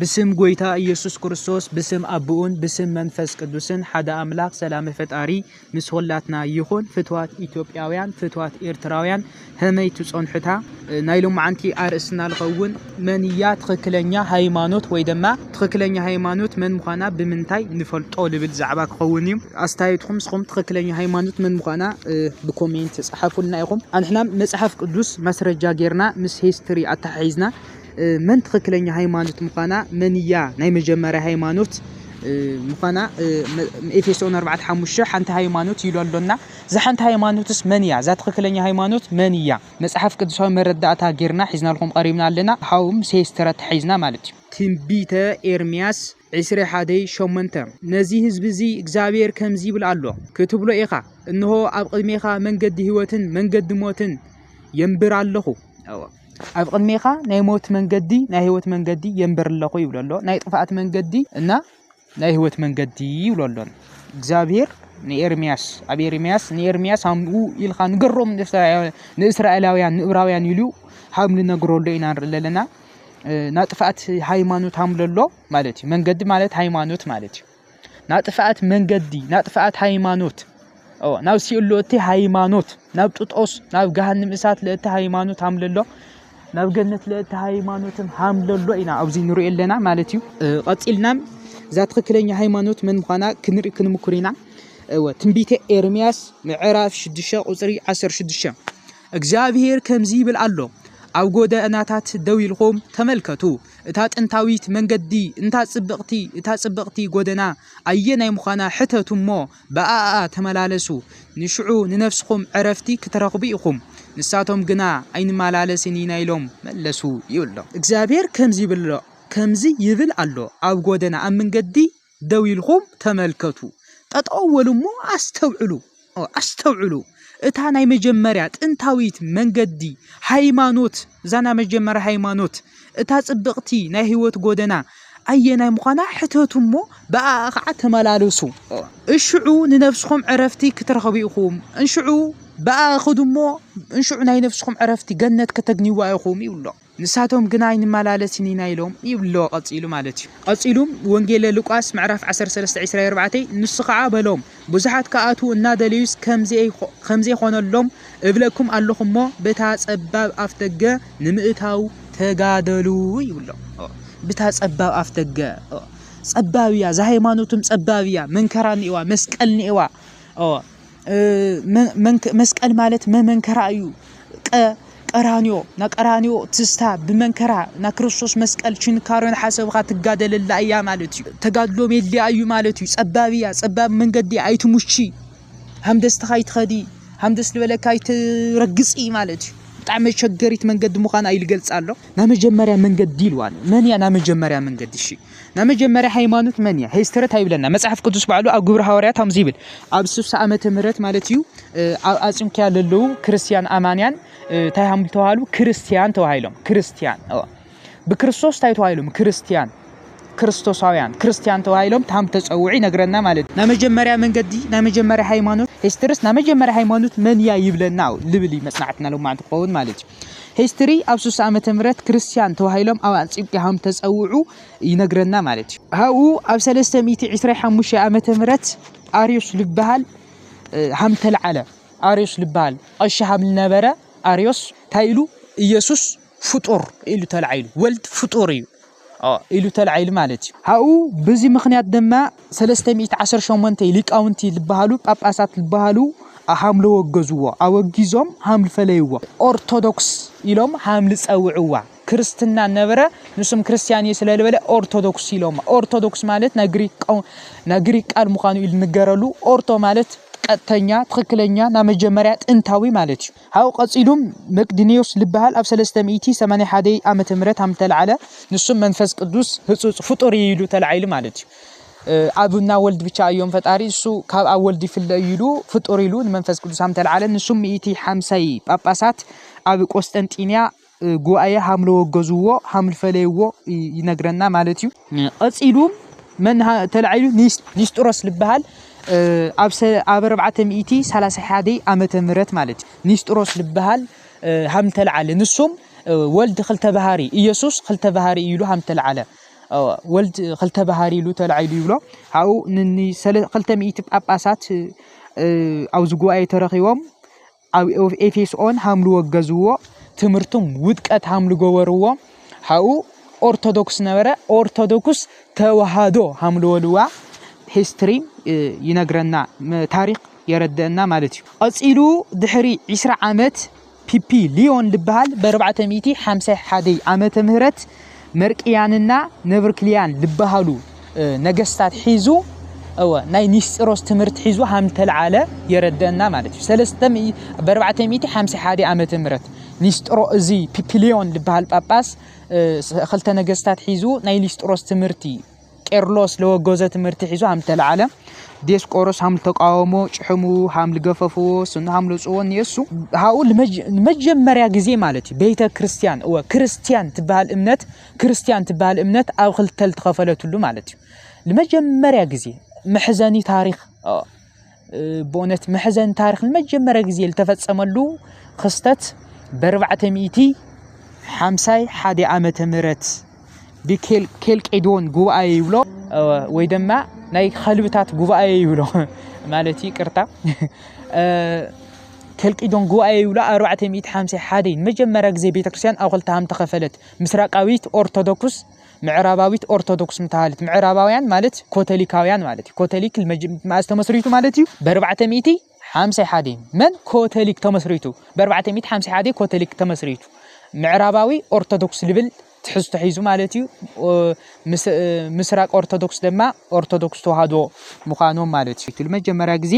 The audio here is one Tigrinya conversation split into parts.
ብስም ጎይታ እየሱስ ክርስቶስ ብስም ኣቡኡን ብስም መንፈስ ቅዱስን ሓደ ኣምላክ ሰላመ ፈጣሪ ምስ ኹላትና ይኹን ፍትዋት ኢትዮጵያውያን ፍትዋት ኤርትራውያን ሀመይ ትጸንሑታ ናይ ሎማዓንቲ ኣርእስትና ልኸውን መን እያ ትኽክለኛ ሃይማኖት ወይ ድማ ትኽክለኛ ሃይማኖት መን ምዃና ብምንታይ ንፈልጦ ልብል ዛዕባ ክኸውን እዩ ኣስተያየትኩም ንስኹም ትኽክለኛ ሃይማኖት መን ምዃና ብኮሜንት ጸሓፉልና ኢኹም ኣንሕና መጽሓፍ ቅዱስ መስረጃ ጌርና ምስ ሂስትሪ ኣተሓሒዝና መን ትኽክለኛ ሃይማኖት ምዃና፣ መን እያ ናይ መጀመርያ ሃይማኖት ምዃና፣ ኤፌሶን ኣርባዕተ ሓሙሽተ ሓንቲ ሃይማኖት ኢሉ ኣሎና። እዛ ሓንቲ ሃይማኖትስ መን እያ? እዛ ትኽክለኛ ሃይማኖት መን እያ? መጽሓፍ ቅዱሳዊ መረዳእታ ጌርና ሒዝናልኩም ቐሪብና ኣለና። ሓው ምሴ ስትራ ተሓሒዝና ማለት እዩ። ትንቢተ ኤርምያስ ዕስሬ ሓደይ ሸሞንተ ነዚ ህዝቢ እዚ እግዚኣብሄር ከምዚ ይብል ኣሎ ክትብሎ ኢኻ፣ እንሆ፣ ኣብ ቕድሜኻ መንገዲ ህይወትን መንገዲ ሞትን የንብር ኣለኹ። ኣብ ቕድሜኻ ናይ ሞት መንገዲ ናይ ህይወት መንገዲ የንብር ኣለኹ ይብሎ ኣሎ። ናይ ጥፍኣት መንገዲ እና ናይ ህይወት መንገዲ ይብሎ ኣሎ። እግዚኣብሄር ንኤርምያስ ኣብ ኤርምያስ ንኤርምያስ ሃምኡ ኢልካ ንገሮም ንእስራኤላውያን ንእብራውያን ኢሉ ሃም ንነግረሉ ኢና ንርኢ ኣለና። ናጥፍኣት ሃይማኖት ኣምለሎ ማለት እዩ መንገዲ ማለት ሃይማኖት ማለት እዩ ናጥፍኣት መንገዲ ናጥፍኣት ሃይማኖት ናብ ሲኦል እቲ ሃይማኖት ናብ ጥጦስ ናብ ገሃንም እሳት ለእቲ ሃይማኖት ሃምለሎ ናብ ገነት ለእቲ ሃይማኖትም ሃምለሎ ኢና ኣብዚ ንሪኦ ኣለና ማለት እዩ ቐፂልና እዛ ትኽክለኛ ሃይማኖት መን ምዃና ክንርኢ ክንምኩር ኢና ትንቢተ ኤርምያስ ምዕራፍ 6 ቁፅሪ 16 እግዚኣብሄር ከምዚ ይብል ኣሎ፣ ኣብ ጐደናታት ደው ኢልኩም ተመልከቱ፣ እታ ጥንታዊት መንገዲ፣ እንታ ጽብቕቲ፣ እታ ጽብቕቲ ጐደና ኣየናይ ምዃና ሕተቱ እሞ፣ ብኣኣ ተመላለሱ፣ ንሽዑ ንነፍስኹም ዕረፍቲ ክትረኽቡ ኢኹም። ንሳቶም ግና፣ ኣይንመላለስን ኢና ኢሎም መለሱ ይብሎ። እግዚኣብሄር ከምዚ ይብል ኣሎ፣ ከምዚ ይብል ኣሎ፣ ኣብ ጐደና፣ ኣብ መንገዲ ደው ኢልኩም ተመልከቱ፣ ጠጠው በሉ እሞ ኣስተውዕሉ፣ ኣስተውዕሉ፣ እታ ናይ መጀመርያ ጥንታዊት መንገዲ ሃይማኖት፣ እዛ ናይ መጀመርያ ሃይማኖት፣ እታ ጽብቕቲ ናይ ህይወት ጎደና ኣየናይ ምዃና ሕተቱ እሞ ብኣኣ ኸዓ ተመላለሱ። እሽዑ ንነፍስኹም ዕረፍቲ ክትረኽቡ ኢኹም፣ እንሽዑ ብኣኣ ኽዱ እሞ እንሽዑ ናይ ነፍስኹም ዕረፍቲ ገነት ከተግንይዋ ኢኹም ይብሎ። ንሳቶም ግና ኣይንመላለስን ኢና ኢሎም ይብሎ ቀጺሉ ማለት እዩ። ቀጺሉ ወንጌለ ሉቃስ ምዕራፍ ዓሰርተ ሰለስተ ዒስራ ኣርባዕተ ንሱ ኸኣ በሎም ብዙሓት ክኣትዉ እናደለዩስ ከምዘይኮነሎም እብለኩም ኣሎኹ እሞ በታ ጸባብ ኣፍደገ ንምእታው ተጋደሉ ይብሎ ብታ ጸባብ ኣፍደገ ጸባብ እያ እዛ ሃይማኖትም ጸባብ እያ መንከራ ኒኤዋ መስቀል ኒኤዋ መስቀል ማለት መመንከራ እዩ ቀ ቀራንዮ ና ቀራንዮ ትስታ ብመንከራ ና ክርስቶስ መስቀል ችንካሮን ሓሰብኻ ትጋደለላ እያ ማለት እዩ ተጋድሎ ሜድያ እዩ ማለት እዩ ጸባብ እያ ጸባብ መንገዲ ኣይትሙቺ ሃምደስትኻ ይትኸዲ ሃምደስ ዝበለካ ይትረግጽ እዩ ማለት እዩ ብጣዕሚ መቸገሪት መንገዲ ምዃና ኢሉ ገልጻ ኣሎ ና መጀመርያ መንገዲ ኢልዋ ኣሎ መን እያ ና መጀመርያ መንገዲ እሺ ናይ መጀመርያ ሃይማኖት መን እያ ሂስትሪ እንታይ ይብለና መጽሓፍ ቅዱስ ባዕሉ ኣብ ግብሪ ሃዋርያት ከምዚ ይብል ኣብ ስሳ ዓመተ ምህረት ማለት እዩ ኣብ ኣጽንኪያ ዘለዉ ክርስትያን ኣማንያን እንታይ ሃም ተባሃሉ ክርስትያን ተባሂሎም ክርስትያን ብክርስቶስ እንታይ ተባሂሎም ክርስትያን ክርስቶሳውያን ክርስትያን ተባሂሎም ታም ተፀውዑ ይነግረና ማለት እዩ ናይ መጀመርያ መንገዲ ናይ መጀመርያ ሃይማኖት ሂስትርስ ናይ መጀመርያ ሃይማኖት መን እያ ይብለና ልብል እዩ መፅናዕትና ሎማዕንቲ ክኸውን ማለት እዩ History ኣብ ሱሳ ዓመተ ምህረት ክርስትያን ተባሂሎም ኣብ ኣንጽዮቅያ ከም ተጸውዑ ይነግረና ማለት እዩ። ኣብኡ ኣብ ሰለስተ ሚእቲ ዕስራይ ሓሙሻይ ዓመተ ምህረት ኣርዮስ ልበሃል ሃም ተልዓለ ኣርዮስ ልበሃል ቐሺ ሃም ልነበረ ኣርዮስ እንታይ ኢሉ ኢየሱስ ፍጡር ኢሉ ተልዓይሉ ወልድ ፍጡር እዩ ኢሉ ተላዒሉ ማለት እዩ። ኣብኡ ብዚ ምኽንያት ድማ ሰለስተ ሚእቲ ዓሰርተ ሸሞንተ ሊቃውንቲ ልበሃሉ ጳጳሳት ልበሃሉ ሃምለ ወገዝዎ፣ ኣወጊዞም ሃምል ፈለይዎ፣ ኦርቶዶክስ ኢሎም ሃምል ጸውዕዋ፣ ክርስትና ነበረ ንሱም ክርስትያን እየ ስለ ልበለ ኦርቶዶክስ ኢሎማ፣ ኦርቶዶክስ ማለት ናይ ግሪክ ናይ ግሪክ ቃል ምዃኑ ኢሉ ንገረሉ፣ ኦርቶ ማለት ቀጥተኛ ትኽክለኛ ናይ መጀመርያ ጥንታዊ ማለት እዩ። ሓው ቀጺሉ መቅዲንዮስ ልበሃል ኣብ ሰለስተ ሚእቲ ሰማንያ ሓደ ዓመተ ምህረት ሃም ተልዓለ ንሱም መንፈስ ቅዱስ ህጹጽ ፍጡር እዩ ኢሉ ተላዒሉ ማለት እዩ ኣብ እና ወልድ ብቻ እዮም ፈጣሪ እሱ ካብ ኣብ ወልድ ይፍለ እዩ ኢሉ ፍጡር ኢሉ ንመንፈስ ቅዱስ ሃም ተልዓለ ንሱም ሚእቲ ሓምሳይ ጳጳሳት ኣብ ቆስጠንጢንያ ጉባኤ ሃምለ ወገዝዎ ሃምል ፈለይዎ ይነግረና ማለት እዩ። ቀፂሉ መን ተላዒሉ ኒስጥሮስ ልበሃል ኣብ ኣብ ኣርባዕተ ሚእቲ ሰላሳ ሓደ ዓመተ ምህረት ማለት እዩ ኒስጥሮስ ልበሃል ሃም ተለዓለ ንሱም ወልድ ክልተ ባህሪ ኢየሱስ ክልተ ባህሪ ኢሉ ሃም ተለዓለ ወልድ ክልተ ባህሪ ኢሉ ተላዒሉ ይብሎ ሃኡ ክልተ ሚእቲ ጳጳሳት ኣብዚ ጉባኤ ተረኺቦም ኣብ ኤፌስኦን ሃምሉ ወገዝዎ ትምህርቱም ውድቀት ሃምሉ ገበርዎ ሃኡ ኦርቶዶክስ ነበረ ኦርቶዶክስ ተዋህዶ ሃምሉ ወልዋ ሂስትሪ ይነግረና ታሪክ የረድአና ማለት እዩ ቀፂሉ ድሕሪ 20 ዓመት ፒፒ ሊዮን ዝበሃል ብ451 ዓመተ ምህረት መርቅያንና ነብርክልያን ልበሃሉ ነገስታት ሒዙ እወ ናይ ኒስጢሮስ ትምህርቲ ሒዙ ሃም ተልዓለ የረደእና ማለት እዩ ሰለስተ በርባዕተ ሚእቲ ሓምሳ ሓደ ዓመተ ምህረት ኒስጢሮ እዚ ፒፒሊዮን ልበሃል ጳጳስ ክልተ ነገስታት ሒዙ ናይ ኒስጢሮስ ትምህርቲ ቄርሎስ ለወገዞ ትምህርቲ ሒዞ ሃም ተለዓለ ዲዮስቆሮስ ሃም ተቃወሞ ጭሕሙ ሃም ልገፈፍዎ ስኑ ሃም ለውፅዎ ንየሱ ሃኡ ንመጀመርያ ግዜ ማለት እዩ ቤተ ክርስቲያን እወ ክርስቲያን ትበሃል እምነት ክርስቲያን ትበሃል እምነት ኣብ ክልተ ልተኸፈለትሉ ማለት እዩ ንመጀመርያ ግዜ መሕዘኒ ታሪክ ብእውነት መሕዘን ታሪክ ንመጀመርያ ግዜ ዝተፈፀመሉ ክስተት በርባዕተ ሚእቲ ሓምሳይ ሓደ ዓመተ ምህረት ብኬልቄዶን ጉባኤ ይብሎ ወይ ድማ ናይ ከልብታት ጉባኤ ይብሎ ማለት እዩ ቅርታ ኬልቄዶን ጉባኤ ይብሎ ኣርባዕተ ሚእቲ ሓምሳይ ሓደ ንመጀመርያ ግዜ ቤተክርስትያን ኣብ ክልተ ሃም ተኸፈለት ምስራቃዊት ኦርቶዶክስ ምዕራባዊት ኦርቶዶክስ ምተሃልት ምዕራባውያን ማለት ኮተሊካውያን ማለት እዩ። ኮተሊክ መኣስ ተመስሪቱ ማለት እዩ በርባዕተ ሚእቲ ሓምሳይ ሓደ መን ኮተሊክ ተመስሪቱ በርባዕተ ሚእቲ ሓምሳይ ሓደ ኮተሊክ ተመስሪቱ ምዕራባዊ ኦርቶዶክስ ልብል ትሕዝቶ ሒዙ ማለት እዩ። ምስራቅ ኦርቶዶክስ ድማ ኦርቶዶክስ ተዋህዶ ምዃኖም ማለት እዩ። መጀመርያ ግዜ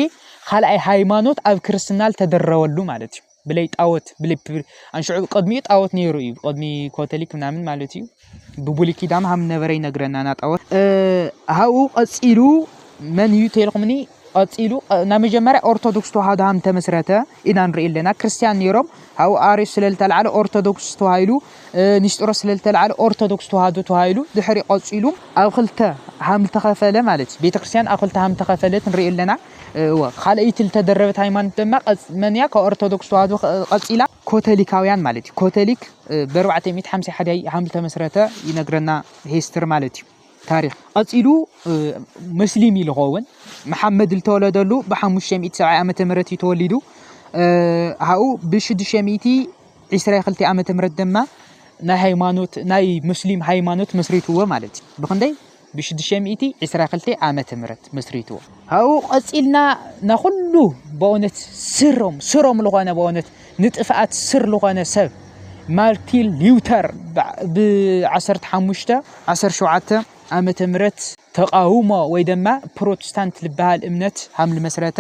ካልኣይ ሃይማኖት ኣብ ክርስትና ዝተደረበሉ ማለት እዩ። ብለይ ጣኦት ኣንሽዑ ቅድሚኡ ጣኦት ነይሩ እዩ ቅድሚ ኮተሊክ ምናምን ማለት እዩ ብብሉይ ኪዳን ሃም ነበረ ይነግረናና ጣኦት ሃብኡ ቀፂሉ መን እዩ ተልኩምኒ ቀፂሉ ናይ መጀመርያ ኦርቶዶክስ ተዋህዶ ሃም ተመስረተ ኢና ንርኢ ኣለና ክርስትያን ነይሮም ሃብኡ ኣርዮስ ስለ ዝተለዓለ ኦርቶዶክስ ተዋሂሉ ንስጢሮስ ስለ ዝተለዓለ ኦርቶዶክስ ተዋህዶ ተዋሂሉ ድሕሪ ቀፂሉ ኣብ ክልተ ሃም ተኸፈለ ማለት እዩ ቤተክርስትያን ኣብ ክልተ ሃም ተኸፈለት ንርኢ ኣለና እወ ካልኣይቲ ልተደረበት ሃይማኖት ደማ መን እያ ካብ ኦርቶዶክስ ተዋህዶ ቀፂላ ኮተሊካውያን ማለት እዩ ኮተሊክ በርባዕተ ሚእቲ ሓምሳ ሓደ ሃም ዝተመስረተ ይነግረና ሂስትሪ ማለት እዩ ታሪክ ቀፂሉ መስሊም እዩ ዝኸውን መሓመድ ዝተወለደሉ ብሓሙሽተ ሚእቲ ሰብዓይ ዓመተ ምህረት እዩ ተወሊዱ ሃኡ ብሽዱሽተ ሚእቲ ዒስራ ክልተ ዓመተ ምህረት ደማ ናይ ሃይማኖት ናይ ሙስሊም ሃይማኖት መስሪትዎ ማለት እዩ ብክንደይ ብሽዱሽተ ሚእቲ ዕስራ ክልተ ዓመተ ምህረት መስሪትዎ። ካብኡ ቀጺልና ናኹሉ በእውነት ስሮም ስሮም ዝኾነ በእውነት ንጥፍኣት ስር ዝኾነ ሰብ ማርቲን ሊውተር ብዓሰርተ ሓሙሽተ ዓሰርተ ሸውዓተ ዓመተ ምህረት ተቃውሞ ወይ ደማ ፕሮቴስታንት ልበሃል እምነት ሃም ልመስረተ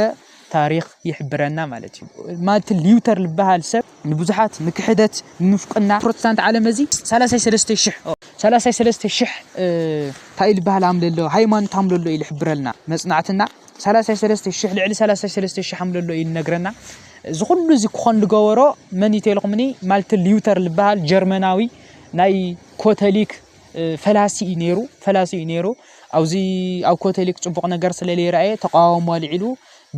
ታሪኽ ይሕብረና ማለት እዩ። ማርቲን ሊዩተር ዝበሃል ሰብ ንብዙሓት ንክሕደት ንምፍቅና ፕሮቴስታንት ዓለም እዚ ሰላሳይ ሰለስተ ሽሕ ሰላሳይ ሰለስተ ሽሕ እንታይ ዝበሃል ኣምለሎ ሃይማኖት ኣምለሎ ኢሉ ይሕብረልና መጽናዕትና ሰላሳይ ሰለስተ ሽሕ ልዕሊ ሰላሳይ ሰለስተ ሽሕ ኣምለሎ ኢሉ ነግረና እዚ ኩሉ እዚ ክኾን ዝገበሮ መን እዩ ተልኩምኒ ማርቲን ሊዩተር ዝበሃል ጀርመናዊ ናይ ኮተሊክ ፈላሲ እዩ ነይሩ ፈላሲ እዩ ነይሩ ኣብዚ ኣብ ኮተሊክ ፅቡቕ ነገር ስለ ዘይረኣየ ተቃዋሞ ኣልዒሉ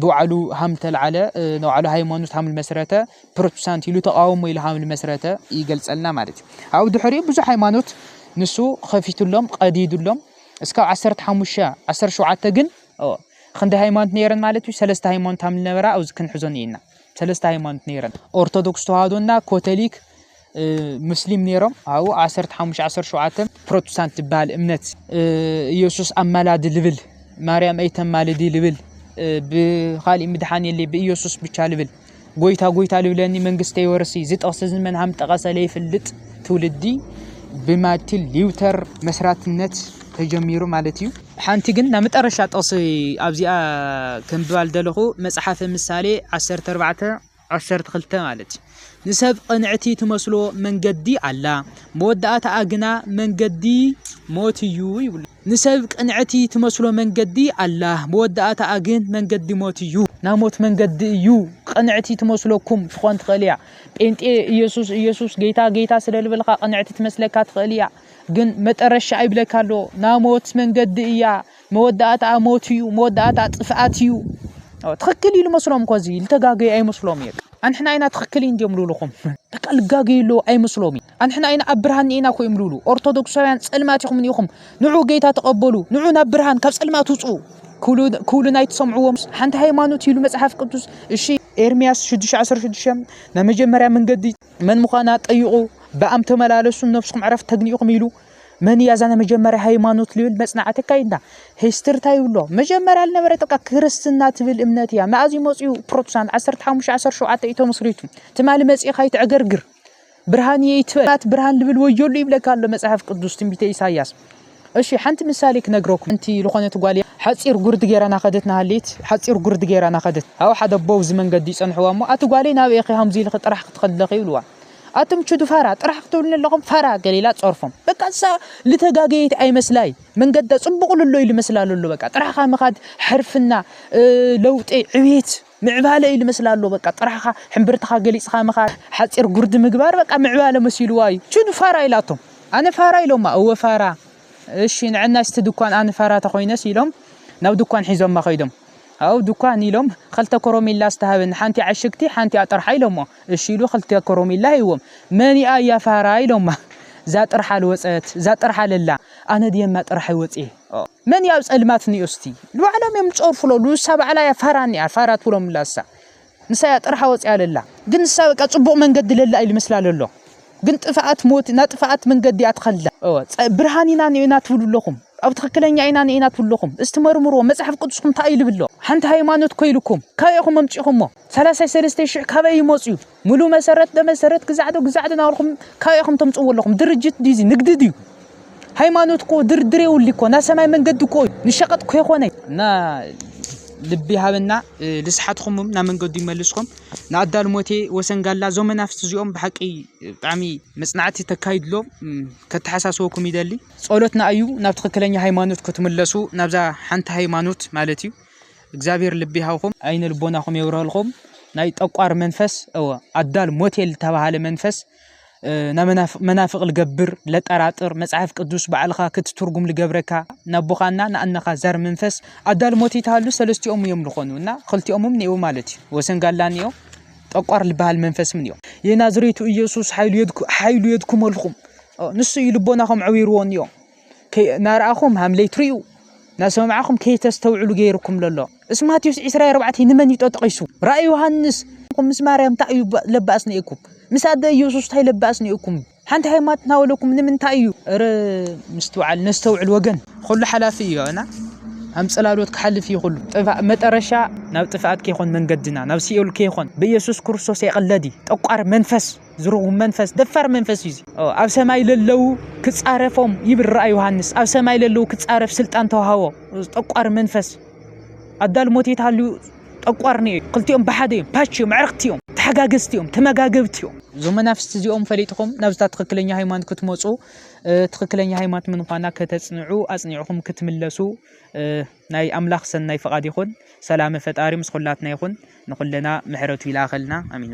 ብባዕሉ ሃም ተልዓለ ንባዕሉ ሃይማኖት ሃም መስረተ ፕሮቴስታንት ኢሉ ተቃውሞ ኢሉ ሃም መስረተ ይገልፀልና ማለት እዩ ኣብኡ ድሕሪኡ ብዙሕ ሃይማኖት ንሱ ከፊቱሎም ቀዲዱሎም እስካብ ዓሰርተ ሓሙሽተ ዓሰርተ ሸውዓተ ግን ክንዲ ሃይማኖት ነይረን ማለት እዩ ሰለስተ ሃይማኖት ሃም ዝነበራ ኣብዚ ክንሕዞን እየና ሰለስተ ሃይማኖት ነይረን ኦርቶዶክስ ተዋህዶና ኮተሊክ ሙስሊም ነይሮም ኣብኡ ዓሰርተ ሓሙሽተ ዓሰርተ ሸውዓተ ፕሮቴስታንት ዝበሃል እምነት ኢየሱስ ኣማላዲ ልብል ማርያም ኣይተማልዲ ልብል ብኻሊእ ምድሓን የለ ብኢየሱስ ብቻ ልብል ጎይታ ጎይታ ልብለኒ መንግስተ ይወርሲ እዚ ጥቕሲ እዚ መን ሃም ጠቐሰ ለይፍልጥ ትውልዲ ብማርቲን ሊውተር መስራትነት ተጀሚሩ ማለት እዩ ሓንቲ ግን ናብ መጠረሻ ጥቕሲ ኣብዚኣ ከምብባል ደለኹ መፅሓፈ ምሳሌ ዓሰርተ ኣርባዕተ ዓሰርተ ክልተ ማለት ንሰብ ቕንዕቲ ትመስሎ መንገዲ ኣላ፣ መወዳእታኣ ግና መንገዲ ሞት እዩ ይብሉ። ንሰብ ቅንዕቲ ትመስሎ መንገዲ ኣላ፣ መወዳእታኣ ግን መንገዲ ሞት እዩ። ናይ ሞት መንገዲ እዩ። ቅንዕቲ ትመስለኩም ትኾን ትኽእል እያ። ጴንጤ ኢየሱስ ኢየሱስ ጌታ ጌታ ስለ ልበልካ ቅንዕቲ ትመስለካ ትኽእል እያ። ግን መጠረሻ ይብለካ ኣሎ ናይ ሞት መንገዲ እያ። መወዳእታኣ ሞት እዩ መወዳእታኣ ጥፍኣት እዩ ትኽክል እዩ ልመስሎም እኮ እዚ ልተጋገዩ ኣይመስሎም እዩ ኣንሕና ኢና ትኽክል እዩ እንዲዮም ልብልኹም በቃ ልጋገዩ ኣለዎ ኣይመስሎም እዩ ኣንሕና ኢና ኣብ ብርሃን ኒኢና እኮ እዮም ልብሉ ኦርቶዶክሳውያን ፀልማት ኢኹም ኒኢኹም ንዑ ጌታ ተቐበሉ ንዑ ናብ ብርሃን ካብ ፀልማት ውፁ ክብሉ ናይ ትሰምዕዎም ሓንቲ ሃይማኖት ይብሉ መፅሓፍ ቅዱስ እሺ ኤርሚያስ 616 ናይ መጀመርያ መንገዲ መን ምዃና ጠይቑ ብኣም ተመላለሱ ነብስኩም ዕረፍቲ ተግኒኢኹም ኢሉ መን እያ እዛ ናይ መጀመርያ ሃይማኖት ልብል መፅናዕቲ ኣካይድና ሂስትሪ እንታይ ይብሎ መጀመርያ ዝነበረ ጥቃ ክርስትና ትብል እምነት እያ መኣዝ እዩ መፅኡ ፕሮቴስታንት 15 17 እዩ ተመስሪቱ ትማሊ መፅእኻ ይትዕገርግር ብርሃን እየ ይትበላት ብርሃን ልብል ወዮሉ ይብለካ ኣሎ መፅሓፍ ቅዱስ ትንቢተ ኢሳያስ እሺ ሓንቲ ምሳሌ ክነግረኩም እንቲ ዝኾነት ጓል ሓፂር ጉርዲ ገይራ ናኸደት ናሃሌት ሓፂር ጉርዲ ገይራ ናኸደት ኣብ ሓደ ኣቦ እዚ መንገዲ ይፀንሕዋ እሞ ኣቲ ጓለይ ናበይ ኢኺ ሃምዚ ኢልኺ ጥራሕ ክትኸድለኺ ይብልዋ ኣቱም ቹዱ ፋራ ጥራሕ ክትብሉኒ ኣለኹም ፋራ ገሊላ ጸርፎም በቃ እሳ ልተጋገየት ኣይመስላይ መንገዳ ጽቡቕ ልሎ ኢሉ መስላ ልሎ በቃ ጥራሕኻ ምኻድ ሕርፍና ለውጢ ዕቤት ምዕባለ ኢሉ መስላ ኣሎ በቃ ጥራሕኻ ሕምብርትኻ ገሊጽኻ ምኻድ ሓጺር ጉርዲ ምግባር በቃ ምዕባለ መሲልዋ እዩ ቹን ፋራ ኢላቶም ኣነ ፋራ ኢሎማ እወ ፋራ እሺ ንዕና ስቲ ድኳን ኣነ ፋራ ተኾይነስ ኢሎም ናብ ድኳን ሒዞማ ከይዶም ኣብ ድኳን ኢሎም ኸልተ ኮሮሚላ ዝተሃበኒ ሓንቲ ዓሽግቲ ሓንቲ ኣጥርሓ ኢሎሞ እሺ ኢሉ ክልተ ኮሮሚላ ሂብዎም መን'ያ እያ ፋራ ኢሎማ እዛ ጥርሓ ልወጸት እዛ ጥርሓ ለላ ኣነ ድየ እማ ጥርሐይ ወጽየ መን እያ ኣብ ጸልማት ኒኦ እስቲ ኢሉ ባዕሎም እዮም ዝጸርፉ ለሉ ንሳ ባዕላ እያ ፋራ ኒኣ ፋራ ትብሎምላ ንሳ ንሳ እያ ጥርሓ ወጽያ ለላ ግን ንሳ በቃ ጽቡቕ መንገዲ ለላ ኢሉ መስላ ለሎ ግን ጥፍኣት ሞት ና ጥፍኣት መንገዲ እያ ትኸላ ብርሃን ኢና ኒኦና ትብሉ ኣለኹም ኣብ ትክክለኛ ኢና ኒኢና ትብሉ ኣለኹም እስቲ መርምርዎ መጽሓፍ ቅዱስኩም እንታይ እዩ ልብሎ ሓንቲ ሃይማኖት ኮይልኩም ካበይ ኢኹም ኣምጺኹሞ ሰላሳይ ሰለስተ ሽሕ ካበይ ይመፅዩ ሙሉ መሰረት በመሰረት ግዛዕዶ ግዛዕዶ ናብርኹም ካበይ ኢኹም ተምፅዎ ኣለኹም ድርጅት ድዩ ንግዲ ድዩ ሃይማኖት እኮ ድርድር የውሊ እኮ ናይ ሰማይ መንገዲ እኮ እዩ ንሸቐጥ ከይኮነ እና ልቢ ሃበና ልስሓትኹምም ናብ መንገዱ ይመልስኩም ንኣዳል ሞቴ ወሰንጋላ እዞም መናፍስቲ እዚኦም ብሓቂ ብጣዕሚ መፅናዕቲ ተካይድሎ ከተሓሳስበኩም ይደሊ ጸሎትና እዩ ናብ ትክክለኛ ሃይማኖት ክትምለሱ ናብዛ ሓንቲ ሃይማኖት ማለት እዩ እግዚኣብሔር ልቢ ይሃብኹም ኣይነ ልቦናኹም የብርሀልኹም ናይ ጠቋር መንፈስ እወ ኣዳል ሞቴል ዝተባሃለ መንፈስ መናፍቅ ልገብር ለጠራጥር መጽሐፍ ቅዱስ ባዕልኻ ክትትርጉም ልገብረካ ናቦኻና ንኣነኻ ዛር መንፈስ ኣዳል ሞት ይተሃሉ ሰለስቲኦም እዮም ልኾኑ እና ክልቲኦምም ኔው ማለት እዩ ወሰን ጋላ ኒኦ ጠቋር ልበሃል መንፈስ ምን እዮ የናዝሬቱ ኢየሱስ ሓይሉ የድኩመልኹም ንሱ እዩ ልቦናኹም ዕዊርዎ ኒኦ ናርኣኹም ሃምለይ ትሪኡ ናሰማዕኹም ከይተስተውዕሉ ገይርኩም ለሎ እስ ማቴዎስ ዕስራይ ኣርባዕተይ ንመን እዩ ጠጠቂሱ ራእይ ዮሃንስ ምስ ማርያም እንታይ እዩ ለባእስ ነኤኩም ምስ ኣደ ኢየሱስ እንታይ ለባእስ ነኤኩም ሓንቲ ሃይማኖት ናበለኩም ንምንታይ እዩ ረ ምስትውዓል ነስተውዕል ወገን ኩሉ ሓላፊ እዩ እና ኣም ጽላሎት ክሓልፍ እዩ ኩሉ መጠረሻ ናብ ጥፍኣት ከይኮን መንገድና ናብ ሲኦል ከይኮን ብኢየሱስ ክርስቶስ የቐለዲ ጠቋር መንፈስ ዝርጉም መንፈስ ደፋር መንፈስ እዩ ኣብ ሰማይ ለለው ክፃረፎም ይብራ ዮሃንስ ኣብ ሰማይ ለለው ክፃረፍ ስልጣን ተዋሃቦ ጠቋር መንፈስ ኣዳል ሞት የትሃልዩ ጠቋር ኒ ክልቲኦም ብሓደ እዮም ፓች እዮም ዕርክቲ እዮም ተሓጋገዝቲ እዮም ተመጋገብቲ እዮም እዞም መናፍስቲ እዚኦም ፈሊጥኹም ናብዝታ ትክክለኛ ሃይማኖት ክትመፁ ትክክለኛ ሃይማኖት ምንኳና ከተፅንዑ ኣፅኒዕኹም ክትምለሱ ናይ ኣምላኽ ሰናይ ፍቓድ ይኹን ሰላመ ፈጣሪ ምስ ኩላትና ይኹን ንኩለና ምሕረቱ ይላኸልና ኣሚኑ